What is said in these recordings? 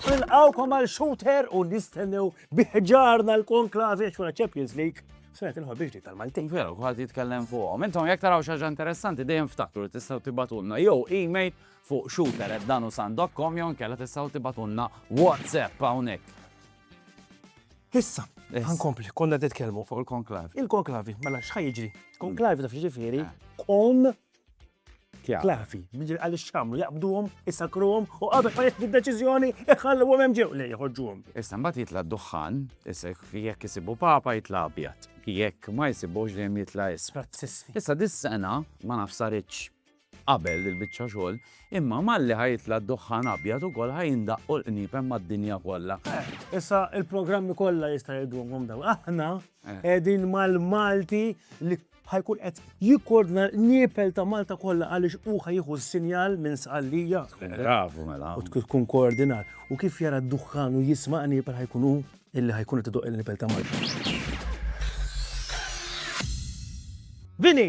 Nilqawkom għal shooter u nistennew biħġarna l-konklavi xwara Champions League. Sena tinħol biex dik tal-Maltin. Veru, għad jitkellem fuqhom. Intom jekk taraw xaġa interessanti dejjem ftakru tistgħu tibatulna jew email fuq shooter@danusan.com jew inkella tistgħu tibgħatulna WhatsApp hawnhekk. Issa, ħa nkompli, konna qed nitkellmu. Fuq il-konklavi. Il-konklavi, mela x'ħa jiġri? Konklavi taf jiġifieri kon klavi. Jiġri għaliex x'għamlu jaqbduhom, isakruhom u qabel ma jieħdu d-deċiżjoni iħalluhom hemm ġew li jħorġuhom. Issa mbagħad jitla' d-duħħan, issa jekk isibu papa jitla' abjad, jekk ma jsibux dejjem jitla' isfel. Issa dis-sena ma nafx saritx qabel il-biċċa xogħol, imma malli ħa jitla' d-duħħan abjad ukoll ħa jindaqqu l-qniepen mad-dinja kollha. Issa il-programmi kollha jista' jgħidulhom dawn. Aħna qegħdin mal-Malti li ħa jkun qed jikkordna l-qniepel ta' Malta kollha għaliex hu ħa jieħu s-sinjal minn Sqallija. Bravu mela. U tkun koordinat. U kif jara d-duħħan u jisma' qniepel ħa jkun hu illi ħa jkun qed idoqq il-qniepel ta' Malta. Vini!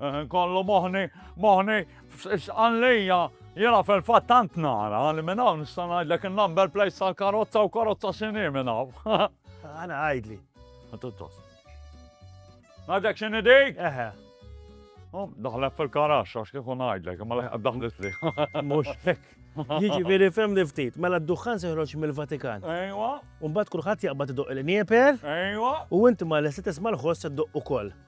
Eh, kollu moħni, moħni, xqan lija, jena fil-fat tant nara li minn hawn nista' ngħidlek in-number plate tal-karozza u karozza x'inhi minn hawn. Għana għajdli. Għatuttos. Għadek x'inhi dik? Eħe. Oh, daħlek fil-karax, għax kieku ngħidlek, imma leħ daħlet li. Mhux hekk. Jiġifieri fem li ftit, mela d-duħħan se joħroġ mill-Vatikan. Ejwa. U mbagħad kulħadd jaqbad idoq il-nieper. Ejwa. U inti ma l-estet isma' l-ħoss iddoq ukoll.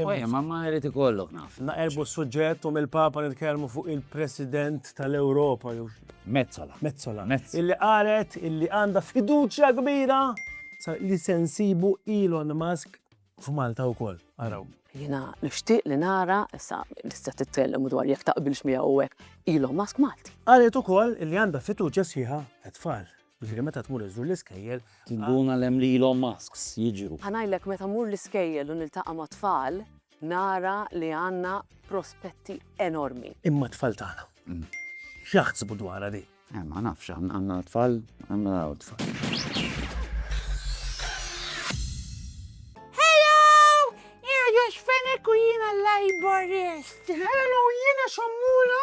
Ojja, ma ma jrid ikollok naf. Naqerbu s-suġġett u mill-Papa nitkellmu fuq il-President tal-Ewropa. Mezzola. Mezzola. Illi qalet illi għandha fiduċja kbira li sensibu Elon Musk f'Malta wkoll. Araw. Jiena nixtieq li nara, issa tista' titkellem dwar jekk taqbilx miegħu hekk, Elon Musk Malti. Qalet ukoll li għandha fiduċja sħiħa għat-tfal. Jiġifieri meta tmur iżżur l-iskejjel. Inkun għal hemm lilhom masks jiġru. Ħa ngħidlek meta mmur l-iskejjel u niltaqa' mat-tfal nara li għandna prospetti enormi. Imma t-tfal tagħna. X'jaħsbu dwarha din? Eh ma nafx, għandna tfal, għandna tfal. Hello! Irgħu x'fenek u jiena l-Laborist. Hello! Jiena Xammura.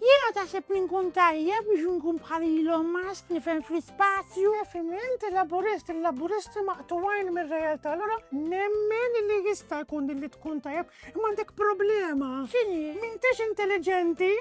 Jiena taħseb li nkun tajjeb biex nkun bħal Elon Musk nifhem fl-ispazju. Nifhem li inti laburist, il-laburisti maqtuwajn mir-realtà, allura nemmen li jista' jkun li tkun tajjeb, imma għandek problema. X'inhi? M'intix intelligenti.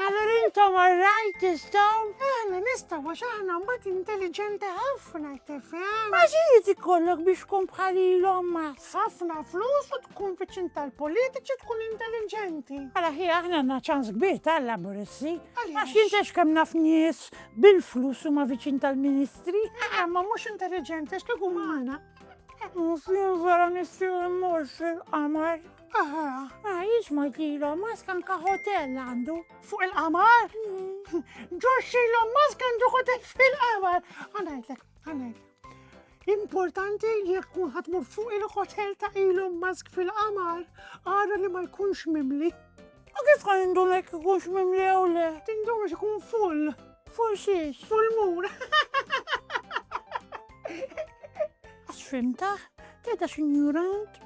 Allora intom għarrajt tistaw? Aħna nistaw għax aħna mbagħad intelligenti ħafna tifhem. Ma xi jrid ikollok biex tkun bħal Elon Musk? Ħafna flus u tkun viċin tal-politiċi tkun intelliġenti. Mela ħi aħna għandna ċans kbir tal-Laburisti. Għax jintex kemm naf nies bil-flus huma viċin tal-ministri. Eh, ma mhux intelliġenti għax kieku magħna. Mhux jinżara nissi mmur fil-qamar. Aha, ah, jiex ma jtilhom, ma skanka hotel għandu. Fuq il-qamar? Mm. Ġoxxilhom ma skandu hotel fil-qamar. Għanajdlek, għanajdlek. Importanti li jekk tkun ħatmur fuq il-hotel ta' Elon Musk fil-qamar, għara li ma jkunx mimli. U kif għan indun jekk jkunx mimli jew le? Tindun għax ikun full. Full xiex? Full mur. Għax fimta, teta xinjurant.